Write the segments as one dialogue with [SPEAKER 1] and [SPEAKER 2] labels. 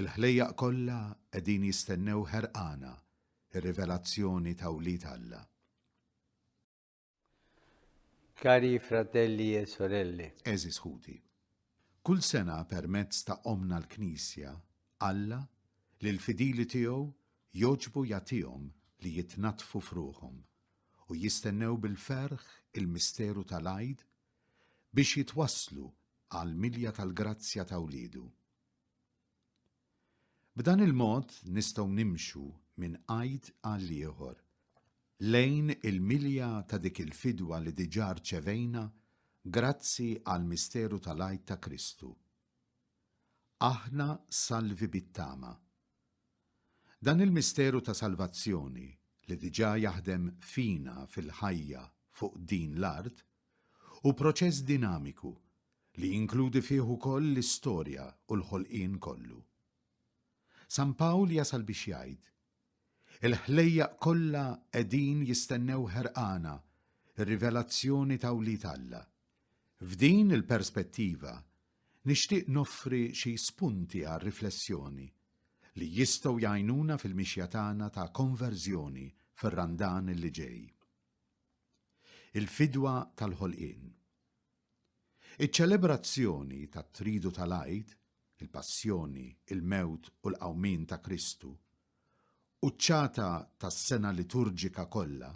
[SPEAKER 1] Il-ħlejjaq kollha qegħdin jistennew ħerqana r-rivelazzjoni ta' wlied Alla.
[SPEAKER 2] Cari fratelli e sorelle. Eżis ħuti.
[SPEAKER 1] Kull sena permezz ta' omna l-Knisja, Alla, li l-fidili tiegħu joġbu jagħtihom li jitnaddfu f'ruħhom u jistennew bil-ferħ il-misteru tal-għid biex jitwasslu għall-milja tal-grazzja ta' wliedu. B'dan il-mod nistgħu nimxu minn għid għal ieħor lejn il-milja ta' dik il-fidwa li diġà rċevejna grazzi għall-misteru tal-Għid ta' Kristu. Aħna salvi bit-tama. Dan il-misteru ta' salvazzjoni li diġà jaħdem fina fil-ħajja fuq din l-art Hu proċess dinamiku li jinkludi fih ukoll l-istorja u l-ħolqien kollu. San Pawl jasal biex jgħid, Il-ħlejjaq kollha qegħdin jistennew ħerqana r-rivelazzjoni ta' wlied Alla. F'din il-perspettiva, nixtieq noffri xi spunti għar-riflessjoni li jistgħu jgħinuna fil-mixja tagħna ta' konverżjoni fir-Randan li ġej. Il-fidwa tal-ħolqien. Iċ-ċelebrazzjoni tat-tridu tal-Għid, il-passjoni, il-mewt u l-qawmien ta' Kristu, quċċata tas-sena liturġika kollha,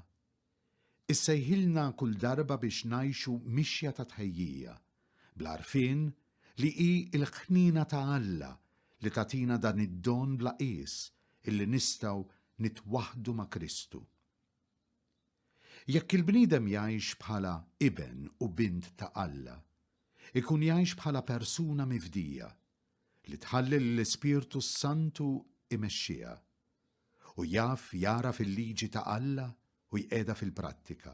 [SPEAKER 1] issejħilna kull darba biex ngħixu mixja ta' tħejjija, bl-għarfien li hi l-ħniena ta' Alla li tagħtina dan id-don bla qies illi nistgħu nitwaħħdu ma' Kristu. Jekk il-bniedem jgħix bħala iben u bint ta' Alla, ikun jgħix bħala persuna mifdija, li tħalli lill-Ispirtu s-Santu imexxiha, u jaf jagħraf il-liġi ta' Alla u jqiegħda fil-prattika,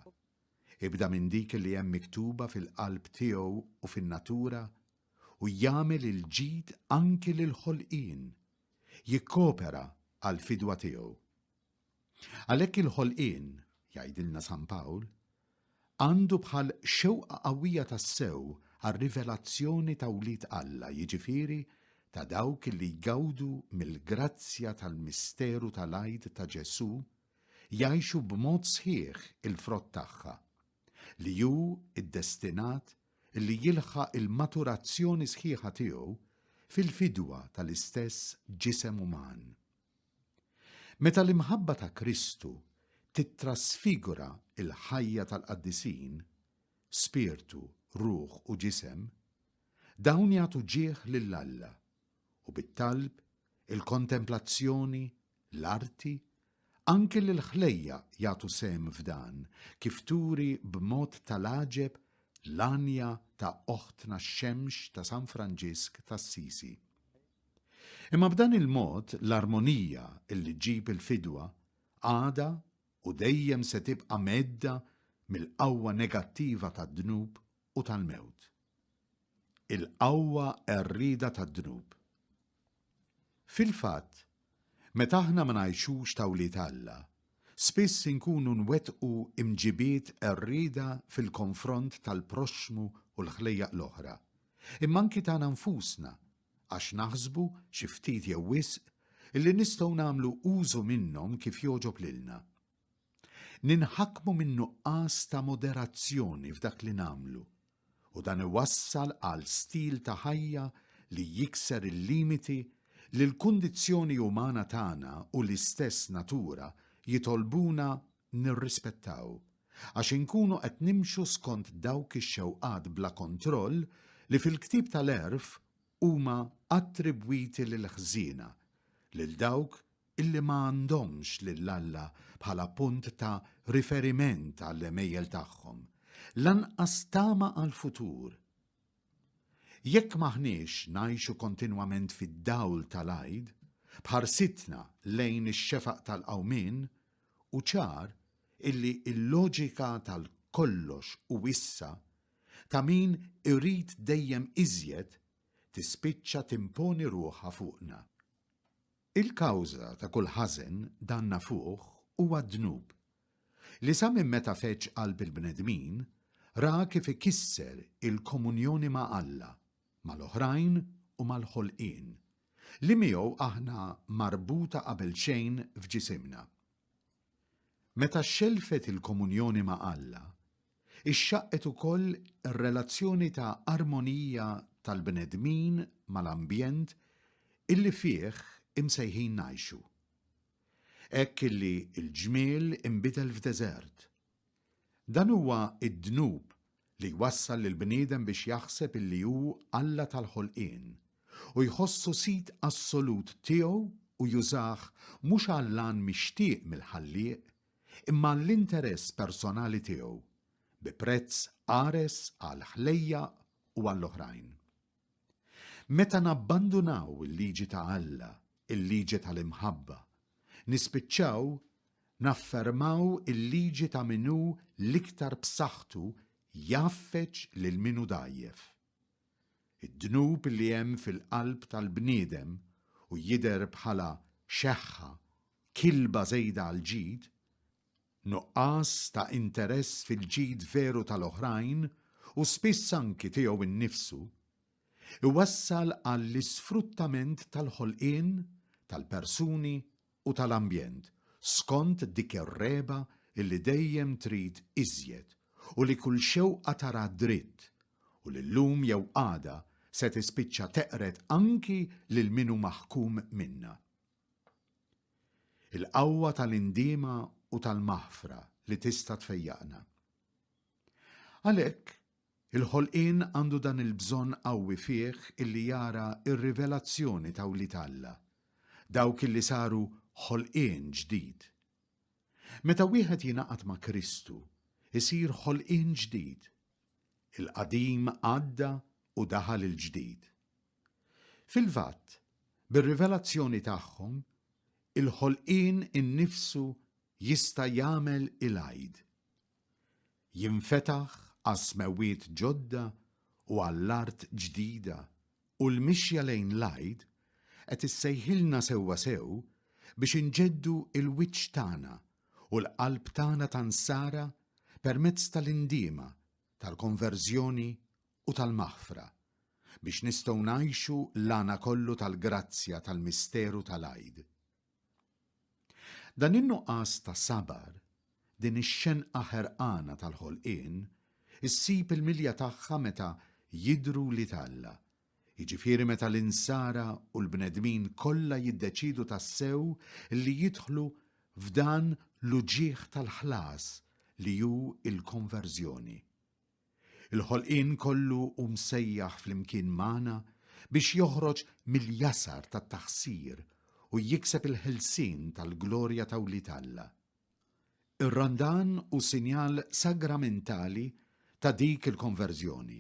[SPEAKER 1] ibda minn dik li hemm miktuba fil-qalb tiegħu u fin-natura, u jagħmel il-ġid anki lill-ħolqien, jikkopera għall-fidwa tiegħu. Għalhekk il-ħolqien, jgħidilna San Pawl, għandu bħal xewqa qawwija tassew għar-rivelazzjoni ta' wlied Alla, jiġifieri ta' dawk li jgawdu mill-grazzja tal-misteru tal-Għid ta' Ġesù, jgħixu b'mod sħiħ il-frott tagħha, li hu ddestinat li jilħaq il-maturazzjoni sħiħa tiegħu fil-fidwa tal-istess ġisem uman. Meta l-imħabba ta' Kristu tittrasfigura l-ħajja tal-qaddisin, spirtu, ruħ u ġisem, dawn jagħtu ġieħ lil Alla, u bit-talb, il-kontemplazzjoni, l-arti, anki l-ħlejjaq jagħtu sehem f'dan, kif turi b'mod tal-għaġeb l-għanja ta' Oħtna x-Xemx ta' San Franġisk t'Assisi. Imma b'dan il-mod l-armonija li ġġib il-fidwa għadha u dejjem se tibqa' mhedda mill-qawwa negattiva tad-dnub u tal-mewt. Il-qawwa qerrieda tad-dnub. Fil-fatt, meta aħna ma ngħixux ta' wlied Alla, spiss inkunu nwettqu imġibiet qerrieda fil-konfront tal-proxxmu u l-ħlejjaq l-oħra, imma anki tagħna nfusna għax naħsbu, xi ftit jew wisq, illi nistgħu nagħmlu użu minnhom kif jogħġob lilna. Ninħakmu min-nuqqas ta' moderazzjoni f'dak li nagħmlu, u dan iwassal għal stil ta' ħajja li jikser il-limiti li l-kundizzjoni umana tagħna u l-istess natura jitolbuna nirrispettaw, għax inkunu qed nimxu skont dawk ix-xewqat bla kontroll li fil-ktieb tal-għerf huma attribwiti lill-ħżiena, lil dawk illi ma għandhomx lil Alla bħala punt ta' riferiment għall-għemejjel tagħhom, lanqas tama għall-futur. Jekk m'aħniex ngħixu kontinwament fid-dawl tal-Għid, b'ħarsitna lejn ix-xefaq tal-Qawmien, hu ċar illi l-loġika tal-kollox hu issa ta' min irid dejjem iżjed tispiċċa timponi ruħha fuqna. Il-kawża ta' kull ħażen, dan nafuh, huwa d-dnub, li sa minn meta feġġ qalb il-bnedmin, ra kif ikisser il-komunjoni ma' Alla, mal-oħrajn u mal-ħolqien, li miegħu aħna marbuta qabelxejn f'ġisimna. Meta xxellfet il-komunjoni ma' Alla, ixxaqqet ukoll ir-relazzjoni ta' armonija tal-bnedmin mal-ambjent illi fih imsejħin ngħixu. Hekk illi l-ġmiel inbidel f'deżert Dan huwa d-dnub li jwassal lill-bniedem biex jaħseb illi hu Alla tal-ħolqien u jħossu sid assolut tiegħu u jużah mhux għall-għan mixtieq mill-Ħallieq imma għall-interess personali tiegħu, bi prezz qares għall-ħlejjaq u għall-oħrajn. Meta nabbandunaw il-liġi ta' Alla, il-liġi tal-imħabba, nispiċċaw naffermaw il-liġi ta' min hu l-iktar b'saħħtu jgħaffeġ lil min hu dgħajjef. Id-dnub li hemm fil-qalb tal-bniedem u jidher bħala xeħħa, kilba żejda għall-ġid, nuqqas ta' interess fil-ġid veru tal-oħrajn u spiss anki tiegħu nnifsu, iwassal għall-isfruttament tal-ħolqien, tal-persuni u tal-ambjent, skont dik ir-regħba li dejjem trid iżjed u li kull xewqa tarha dritt u li llum jew għada se tispiċċa teqred anki lil min hu maħkum minnha. Il-qawwa tal-indiema u tal-maħfra li tista' tfejjaqna. Għalhekk, il-ħolqien għandu dan il-bżonn qawwi fih illi jara r-rivelazzjoni ta' wlied Alla, dawk illi saru ħolqien ġdid. Meta wieħed jingħaqad ma' Kristu, isir ħolqien ġdid. Il-qadim għadda u daħal il-ġdid. Fil-fatt, bir-rivelazzjoni tagħhom, il-ħolqien innifsu jista' jagħmel il-għid. Jinfetaħ għas-smewwiet ġodda u għall-art ġdida u l-mixja lejn l-għid qed issejħilna sewwasew biex inġeddu l-wiċċ tagħna u l-qalb tagħna ta' nsara permezz tal-indiema tal-konverżjoni u tal-maħfra, biex nistgħu ngħixu l-għana kollu tal-grazzja tal-misteru tal-Għid. Dan in-nuqqas ta' sabar, din ix-xenqa ħerqana tal-ħolqien, issib il-milja tagħha meta jidhru wlied Alla, jiġifieri meta l-insara u l-bnedmin kollha jiddeċiedu tassew li jidħlu f'dan l-uġigħ tal-ħlas li hu l-konverżjoni. Il-ħolqien kollu hu msejjaħ flimkien magħna biex joħroġ mill-jasar tat-taħsir u jikseb il-ħelsien tal-glorja ta' wlied Alla. Ir-Randan hu sinjal sagramentali ta' dik il-konverżjoni.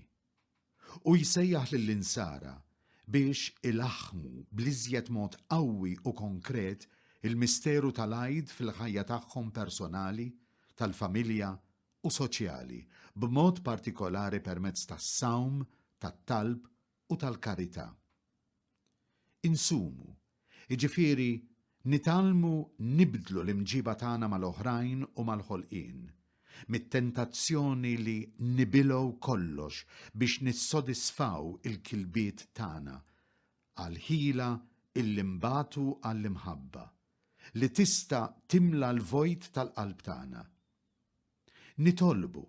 [SPEAKER 1] Hu jsejjaħ lill-Insara biex ilaħħmu bl-iżjed mod qawwi u konkret il-misteru tal-Għid fil-ħajja tagħhom personali, tal-familja u soċjali, b'mod partikolari permezz tas-sawm, tat-talb u tal-karità. Insumu, jiġifieri nitgħallmu nibdlu l-imġiba tagħna mal-oħrajn u mal-ħolqien, mit-tentazzjoni li nibilgħu kollox biex nissodisfaw il-kilbiet tagħna, għall-ħila illi nbatu għall-imħabba, li tista' timla l-vojt tal-qalb tagħna. Nitolbu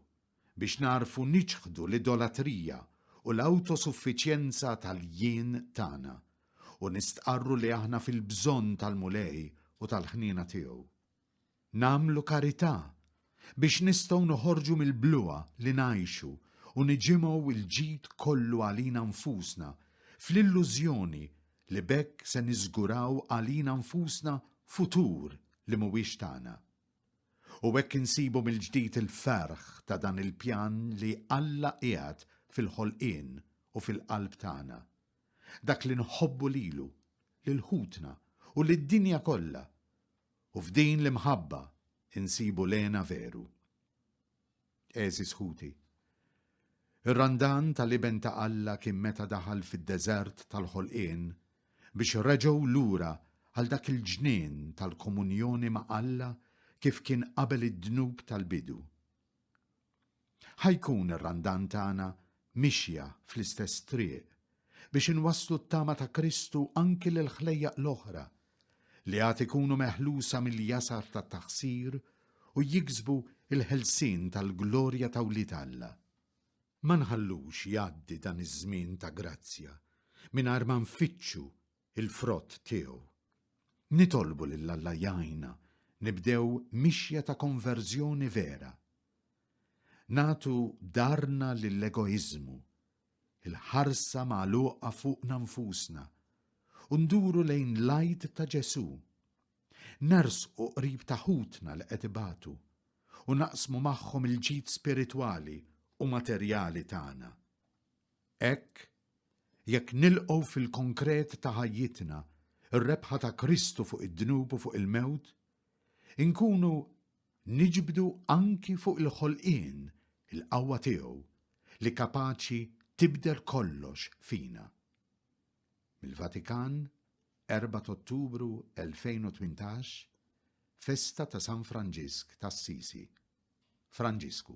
[SPEAKER 1] biex nagħrfu niċħdu l-idolatrija u l-awtosuffiċjenza tal-jien tagħna u nistqarru li aħna fil-bżonn tal-Mulej u tal-ħniena tiegħu. Nagħmlu karità biex nistgħu noħorġu mill-bluha li ngħixu u niġimgħu l-ġid kollu għalina nfusna fl-illużjoni li b'hekk se niżguraw għalina nfusna futur li mhuwiex tagħna. U hekk insibu mill-ġdid il-ferħ ta' dan il-pjan li Alla qiegħed fil-ħolqien u fil-qalb tagħna. Dak li nħobbu lilu, lil ħutna u lid-dinja kollha. U f'din l-imħabba insibu l-hena veru. Għeżież ħuti, ir-Randan tal-Iben ta' Alla kien meta daħal fid-deżert tal-ħolqien biex reġgħu lura għal dak il-ġnien tal-komunjoni ma' Alla kif kien qabel id-dnub tal-bidu. Ħa jkun ir-Randan tagħna mixja fl-istess triq biex inwasslu t-tama ta' Kristu anki lill-ħlejjaq l-oħra li għad ikunu meħlusa mill-jasar tat-taħsir u jiksbu l-ħelsien tal-glorja ta' wlied Alla. Ma nħallux jgħaddi dan iż-żmien ta' grazzja mingħajr ma nfittxu l-frott tiegħu. Nitolbu lil Alla jgħinna nibdew mixja ta' konverżjoni vera. Nagħtu darna lill-egoiżmu il-ħarsa magħluqa fuqna nfusna u nduru lejn l-Għid ta' Ġesù. Nersqu qrib ta' ħutna li qed ibatu u naqsmu magħhom il-ġid spiritwali u materjali tagħna. Hekk, jekk nilqgħu fil-konkret ta' ħajjitna r-rebħa ta' Kristu fuq id-dnub u fuq il-mewt, Inkunu niġbdu anki fuq il-ħolqien il-qawwa tiegħu li kapaċi tibdel kollox fina. Mill-Vatikan, 4 t'Ottubru 2018, Festa ta' San Franġisk t'Assisi. Franġisku.